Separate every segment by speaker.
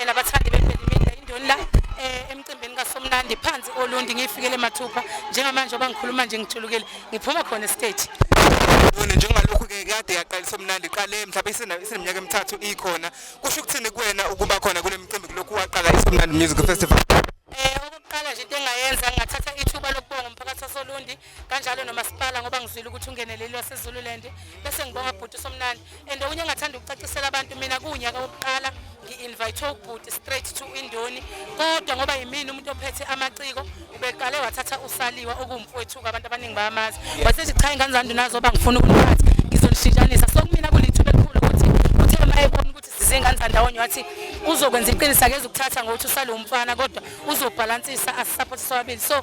Speaker 1: and abathandi beMelimita indoni la eh, emcimbini kaSomnandi phansi oLundi ngifikele mathupha njengamanje obangikhuluma nje ngijulukile ngiphuma khona estage Yona njengalokhu
Speaker 2: ke kade yaqala somnandi qale mhlawumbe isineminyaka emithathu ikhona kusho ukuthini kuwena ukuba khona kule mcimbi kulokhu waqala isomnandi music festival Eh okokuqala
Speaker 1: nje into engayenza ngathatha ithuba lokubonga umphakathi wasoLundi kanjalo nomasipala ngoba ngizwile ukuthi ungeneleli wasezululand bese ngibonga bhuti somnandi and okunye engathanda ukucacisela abantu mina kuwunyaka wokuqala ngi-invithe ubhuti straight to indoni kodwa ngoba yimina umuntu ophethe amaciko ubeqale wathatha usaliwa okuwumfowethuka abantu abaningi bayamazi wasethi cha ingane zami ndinazoba ngifuna ukuniphatha ngizonishintshanisa so kumina kulithuba elikhulu ukuthi uthe uma ebona ukuthi sizingane zandawonye wathi uzokwenza iqiniso akeze ukuthatha ngokuthi usale umfana kodwa uzobhalansisa asisaphothise wabili so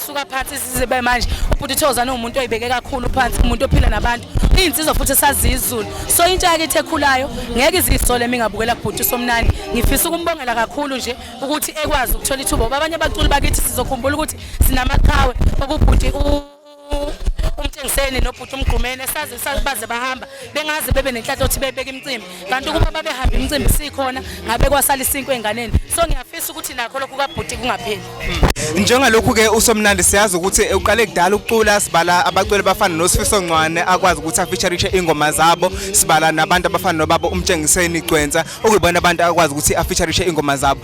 Speaker 1: suka phansi sizibe manje ubhuti Thokozane umuntu oyibeke kakhulu phansi umuntu ophila nabantu iyinsizwa futhi esaziyo izulu so intsha yakithi ekhulayo ngeke izisole mingabukela kubhuti somnani ngifisa ukumbongela kakhulu nje ukuthi ekwazi ukuthola ithuba ngoba abanye abaculi bakithi sizokhumbula ukuthi sinamaqhawe okubhuti umtshengiseni nobhuti umgqumeni esazi baze bahamba bengazi bebe nenhlanhla ukuthi bebeke imicimbi kanti ukuba babehamba imicimbi sikhona ngabe kwasala isinkwe enganeni so ngiyafisa ukuthi nakho lokhu kabhuti kungapheli hmm. njengalokhu
Speaker 2: ke usomnandi siyazi ukuthi uqale kudala ukucula sibala abaculi bafana nosifiso ncwane akwazi ukuthi afeaturishe ingoma zabo sibala nabantu abafana nobaba umtshengiseni gcwensa okuyibona abantu akwazi ukuthi afeaturishe ingoma zabo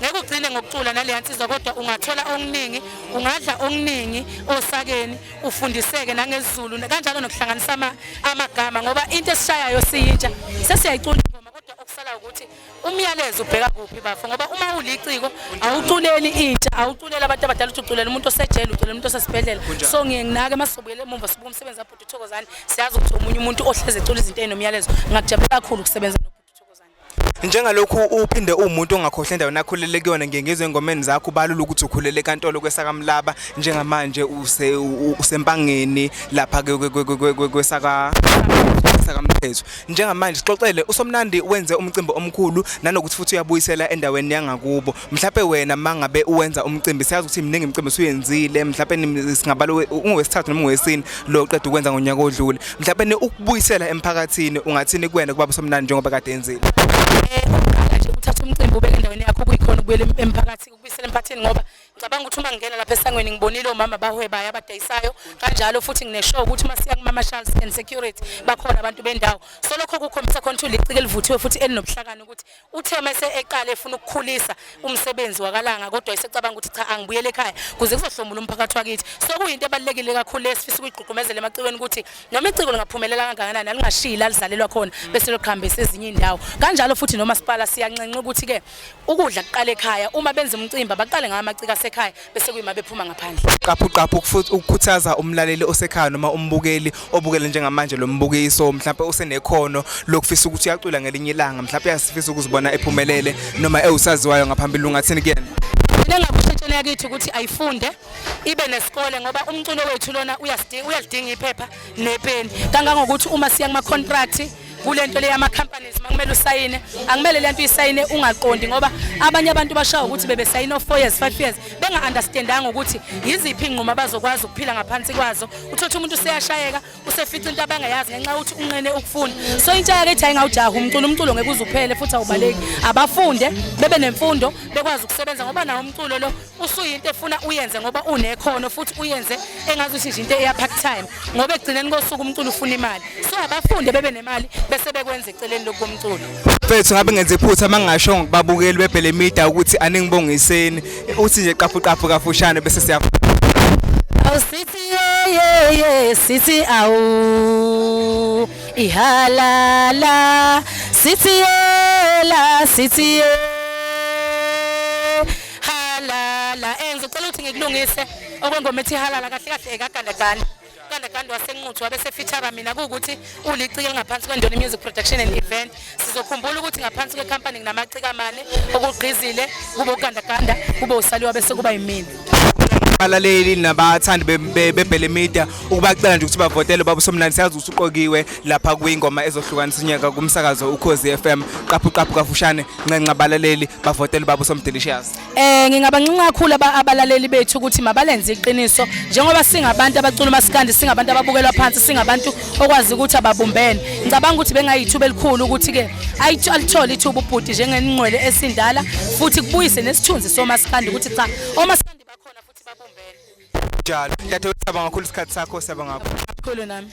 Speaker 1: ngeke ugcine ngokucula naleya nsizwa kodwa ungathola okuningi ungadla okuningi osakeni ufundiseke nangezulu kanjalo nokuhlanganisa amagama ngoba into esishayayo siyintsha sesiyayicula ingoma kodwa okusala ukuthi umyalezo ubheka kuphi bafo ngoba uma uliciko awuculeli intsha awuculeli abantu abadala ukuthi uculela umuntu osejele uculela umuntu osesibhedlela so ngiye nginake masizobuyela emumva sibuka umsebenzi abhuti uthokozane siyazi ukuthi omunye umuntu ohleze ecula izinto ezinomyalezo ngakujabulela kakhulu ukusebenza
Speaker 2: njengalokhu uphinde uwumuntu ongakhohle endaweni akhulele kuyona ngiye ngizwe engomeni zakho ubalula ukuthi ukhulele enkantolo kwesakamlaba njengamanje usempangeni lapha kwesaka sakamthetho njengamanje sixoxele usomnandi wenze umcimbi omkhulu nanokuthi futhi uyabuyisela endaweni yangakubo mhlawumbe wena mangabe uwenza umcimbi siyazi ukuthi mningi imicimbi usuyenzile mhlawumbe singabala ungowesithathu noma ungowesini lo qeda ukwenza ngonyaka odlule mhlawumbe ukubuyisela emphakathini ungathini kuwena kuba somnandi njengoba kade enzile
Speaker 1: uthatha umcimbi ubeke endaweni yakho kuyikhona ukubuyela emphakathini ukubuyisela emphakathini ngoba ngicabanga ukuthi uma ngingena lapha esangweni ngibonile omama abahwebayo abadayisayo kanjalo futhi ngineshow ukuthi uma siya kumama Charles and security bakhona abantu bendawo so lokho kukhombisa khona ukuthi ulicike elivuthiwe futhi elinobuhlakani ukuthi Uthe mase eqale efuna ukukhulisa umsebenzi wakalanga kodwa esecabanga ukuthi cha angibuyele ekhaya kuze kuzohlomula umphakathi wakithi. Sokuyinto ebalekile kakhulu esifisa ukuyigqugqumezela emacikweni ukuthi noma iciko lingaphumelela kangakanani alingashiyi alizalelwa khona bese loqhambisa ezinye indawo. Kanjalo futhi nomasipala siyanxenxa ukuthi ke ukudla kuqale ekhaya uma benza umcimbi baqale ngamaciko asekhaya bese kuyima bephuma ngaphandle qaphu qaphu futhi
Speaker 2: ukukhuthaza umlaleli osekhaya noma umbukeli obukele njengamanje lo mbukiso mhlawumbe usenekhono lokufisa ukuthi uyacula ngelinye ilanga mhlawumbe uyasifisa ukuzibona ephumelele noma ewusaziwayo ngaphambili ungathini kuyena mina ngakushintshela
Speaker 1: yakithi ukuthi ayifunde ibe nesikole ngoba umculo wethu lona uyalidinga iphepha nepeni kangangokuthi uma siya kuma-contract kule nto le yama-companies uma kumele usayine akumele le nto isayine ungaqondi ngoba abanye abantu bashawa ukuthi bebesayine o-four years five years benga-understandanga ukuthi yiziphi iy'nqumo abazokwazi ukuphila ngaphansi kwazo uthotha umuntu useyashayeka usefica into abangayazi ngenxa yokuthi unqene ukufunda so intsha yakithi ayingawujaha umculo umculo ngeke uze uphele futhi awubaleki abafunde bebe nemfundo bekwazi ukusebenza ngoba nawo umculo lo usuyinto efuna uyenze ngoba unekhono futhi uyenze engazi ukuthi nje into eya part time ngoba ekugcineni kosuku umculo ufuna imali so abafunde bebe nemali bese bekwenza eceleni lokho umculo mfethu ngabe ngenze
Speaker 2: iphutha mangasho ngokubabukeli bebhele media ukuthi aningibongiseni uthi nje qafu qafu kafushane bese siya awusithi
Speaker 1: ye ye sithi awu ihalala sithi yela sithi yela halala eh ngicela ukuthi ngikulungise okwengoma ethi halala kahle kahle ekagandaganda ugandaganda wasenquthu wabe sefithara mina kuwukuthi ulicike elingaphansi kwendoni music production and event sizokhumbula ukuthi ngaphansi kwekhampani nginamacika amane okugqizile kube ugandaganda kube usaliwa bese kuba yimina abalaleli
Speaker 2: nabathandi bebhele media ukubacela nje ukuthi bavotele baba usomnandi siyazi ukuthi uqokiwe lapha kwingoma ezohlukanisa unyaka kumsakazo ukhozi FM qaphu qaphu kafushane nxenxa abalaleli bavotele baba usomdelicious eh ngingabancinca
Speaker 1: kakhulu abalaleli bethu ukuthi mabalenze iqiniso njengoba singabantu abacula umasikandi singabantu ababukelwa phansi singabantu okwazi ukuthi ababumbene ngicabanga ukuthi bengayithuba elikhulu ukuthi ke alithole ithuba ubhuti njengenqwele esindala futhi kubuyise nesithunzi somasikandi ukuthi cha omasikandi
Speaker 2: njalo.
Speaker 1: Dadewethu
Speaker 2: siyabonga kakhulu
Speaker 1: isikhathi
Speaker 2: sakho,
Speaker 1: siyabonga
Speaker 2: kakhulu.
Speaker 1: Khulu
Speaker 2: nami.